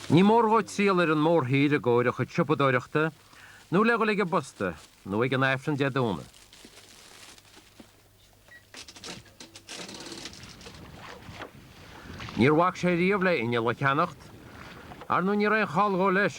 Ní mór dhó triall ar an mórthír i gcomhair a chuid siopadóireachta, nó le dhul ag an bposta, nó ag an Aifreann Dé Domhnaigh. Níor bhac sé riamh le h-inneall a cheannacht, ar ndú ní raibh aon chall dhó leis.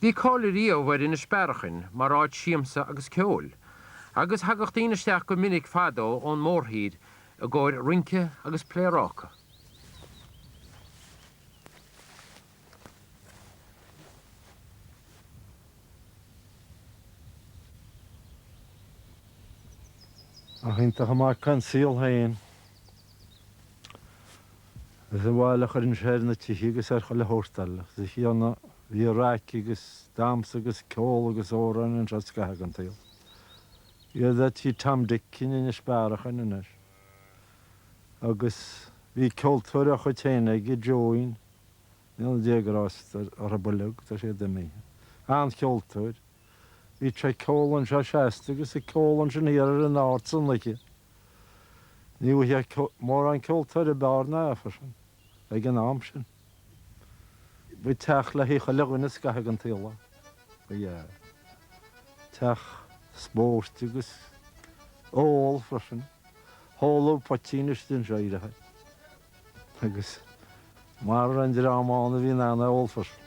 Bhí cáil ariamh ar Inis Bearachain mar áit siamsa agus ceoil, agus thagadh daoine isteach go minic fadó ón mórthír i gcomhair rince agus pléaráca. Nach iontach an mac an saol féin. Is an bhail a chuireann sé ar na tithe agus ar chuile shórt eile. Is a Thiarna, bhí raic agus damhsa agus ceol agus amhráin anseo scaitheamh den tsaol. Siod é tigh Tom Dick in Inis Bearachain anois. agus bhí ceoltóir dá chuid féin aige, Joeín, go ndéana Dia grásta orthu uilig, tá siad imithe, an-cheoltóir, bhíod sé ag ceol anseo seasta agus ag ceol ansin thiar ar an Aird san oíche. Ní bhfaighfeá mórán ceoltóirí ab fhearr ná an fear sin ag an am sin. Ba teach le haghaidh chuile dhuine scaitheamh den tsaol é. Teach spóirt agus ól freisin. Is hóladh poitín istigh anseo i rith agus maidir le an dream ann a bhí in ann é a ól freisin.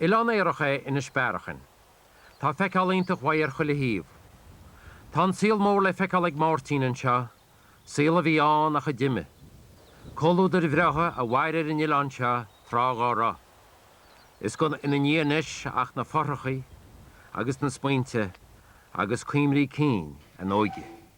Oileán aorach é Inis Bearachain. Tá feiceáil iontach uaidh ar chuile thaobh. Tá an saol mór le feiceáil ag Máirtín anseo, saol a bhí ann ach a d'imigh. Comhluadair bhreátha a mhair ar an oileán seo tráth dhá raibh. Is gan ina ndiaidh anois ach na fothracha agus na smaointe agus cuimhní cinn a n-óige.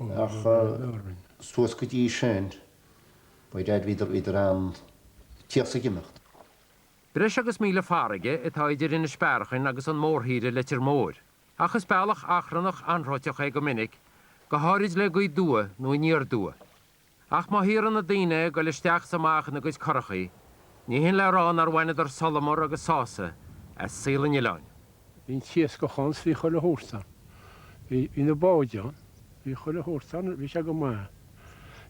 Ach suas go dtí sin, ba ghairid bhíodar idir an tíocht is ag imeacht. Breis agus míle farraige atá idir Inis Bearachain agus an mórthír i Leitir Móir, ach is bealach achrannach anróiteach é go minic, go háirid le gaoth aduaidh nó aniar aduaidh. Ach má b'éigean do na daoine a ghoil isteach is amach ina gcuid curachaí, ní hin le rá nár bhaineadar solamar agus sásamh as saol an Oileáin. Bhí an t-iascach ann 's bhí chuile shórt ann. Bhí, bhí na báid ann. Bhí chuile shórt ann, bhí sé go maith.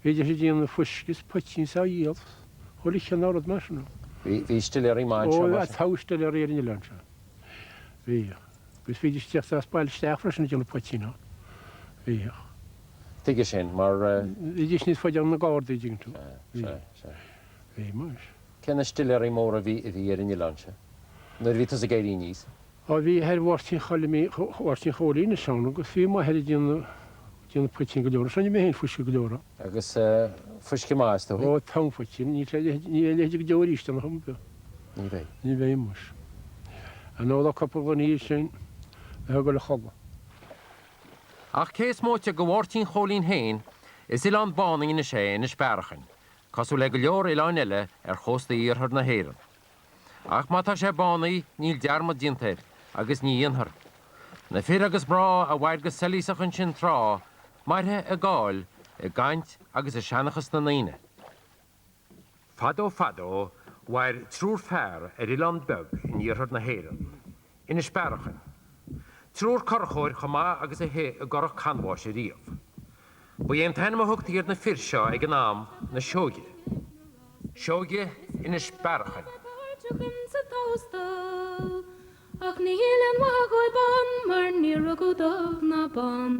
Bhídís ag déanamh fuisce 's poitín 's á dhíol 's chuile chineál rud mar sin ann. Bhí, bhí stiléaraí maith anseo mar sin? Ó, thagadh stiléaraí ar an Oileán seo. Bhíodh. Agus bhídís ag teacht as bailte isteach freisin ag déanamh poitín ann. Bhíodh. Tuige sin? Mar. Bhídís níos faide ó na Gardaí, tuigeann tú. Sea, sea, sea. Bhí, muis. Cé hiad na stiléaraí móra a bhí, a bhí ar an oileán sin nuair a bhí tusa ag éirí aníos? Ó, bhí athair Mháirtín Choilimín, Mháirtín Chóilín is ann agus bhí m'athair ag déanamh, déanamh poitín go leor. Is ainm é féin, Fuisce go leor, a. Agus fuisce maith, is dóigh? Ó, togha poitín. Níl sé, níl a leithide go deo aríst ann, a Chompbe. Ní bheidh. Ní bheidh, muis. An óladh sibh cupla ghloine de sin le haghaidh dul a chodladh? Ach cé is móite de Mháirtín Chóilín féin, is oileán bánaithe anois é Inis Bearachain, cosúil le go leor oileáin eile ar chósta iarthar na hÉireann. Ach má tá sé bánaithe, níl dearmad déanta air, agus ní dhéanfar. Na fir agus mná a mhair go soilíosach ansin tráth, mairfidh a gcáil i gcaint agus i seanchas na ndaoine. Fadó fadó, mhair triúr fear ar oileán beag in iarthar na hÉireann, Inis Bearachain. Triúr curachóir chomh maith agus a shuigh i gcurach canbháis ariamh. Ba é an t-ainm a thugtaí ar na fir seo ag an am, na Seoige. Seoige Inis Bearachain. Ach níl aon mhaith dhóib ann mar níor rugadh dubh ná bán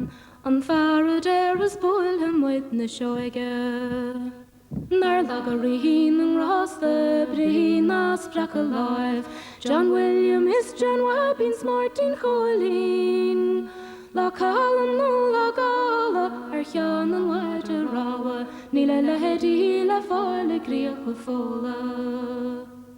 an fear a déarfas buailfidh muid na Seoige. Nár laga Rí na nGrásta, brí ná spreac a láimh, John William is John Bhaibín, Máirtín Chóilín. Lá calm nó lá gála ar cheann an mhaide rámha, níl a leithidí le fáil i gCríocha Fódhla.